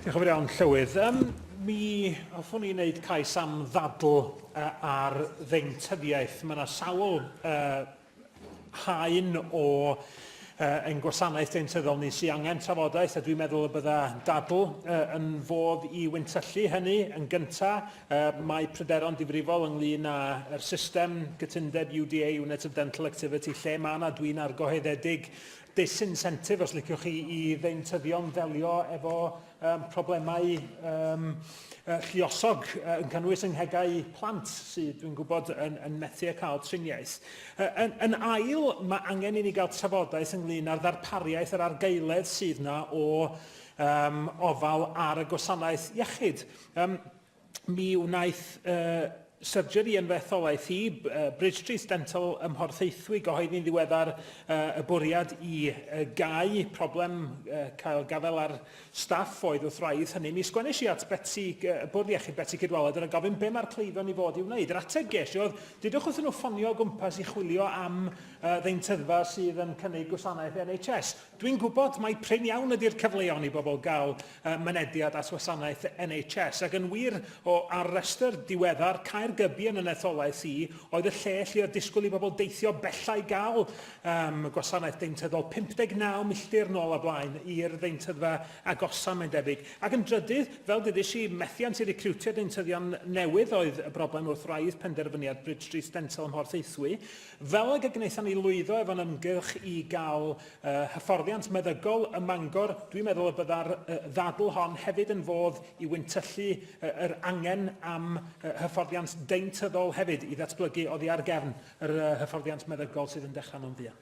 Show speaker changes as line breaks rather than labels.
Diolch yn fawr iawn, Llywydd. Um, mi hoffwn i wneud cais am ddadl uh, ar ddeintyddiaeth. Mae yna sawl uh, haen o uh, ein gwasanaeth deintyddol ni sy'n angen trafodaeth, a dwi'n meddwl y bydda dadl uh, yn fodd i wyntyllu hynny yn gyntaf. Uh, mae pryderon difrifol ynglyn â'r system gytundeb UDA, Unit of Dental Activity, lle mae yna dwi'n argoheddedig disincentive, os liciwch chi, i ddeintyddion ddelio efo um, problemau um, uh, lliosog uh, yn cynnwys yng nghegau plant sydd, dwi'n gwybod, yn, yn methu a cael triniaeth. Uh, yn, yn ail, mae angen i ni gael trafodaeth ynglyn â'r ddarpariaeth yr argaeledd sydd na o um, ofal ar y gwasanaeth iechyd. Um, mi wnaeth uh, surgery yn fy etholaeth i, uh, bridge trace dental ym Mhorthaethwy gyhoeddi'n ddiweddar uh, y bwriad i uh, gau problem uh, cael gafael ar staff oedd wrth wraidd hynny. Mi sgwennes i at Betsy, uh, y bwrdd iechyd Betsy Cydwaled yn y gofyn be mae'r cleifion i fod i wneud. Yr ateb ges i oedd, dydwch wrth nhw ffonio o gwmpas i chwilio am uh, ddeintyddfa sydd yn cynnig gwasanaeth NHS. Dwi'n gwybod mai prin iawn ydy'r cyfleon i bobl gael uh, mynediad at wasanaeth NHS, ac yn wir, o ar restr diweddar Caergybi yn y netholaeth i, oedd y lle lle oedd disgwyl i bobl deithio bella i gael um, gwasanaeth deintyddol 59 milltir nôl a blaen i'r ddeintyddfa agosa, mae'n debyg. Ac yn drydydd, fel dydys i, methiant i recriwtio deintyddion newydd oedd y broblem wrth wraidd penderfyniad Bridge Street Dental ym Mhorth Eithwy, Fel ag y gwnaethon ni lwyddo efo'n ymgyrch i gael uh, hyfforddiant meddygol ym Mangor, dwi'n meddwl y bydda'r uh, ddadl hon hefyd yn fodd i wyntyllu uh, yr angen am uh, hyfforddiant deintyddol hefyd i ddatblygu oddi ar gefn yr uh, hyfforddiant meddygol sydd yn dechrau mewn fuan.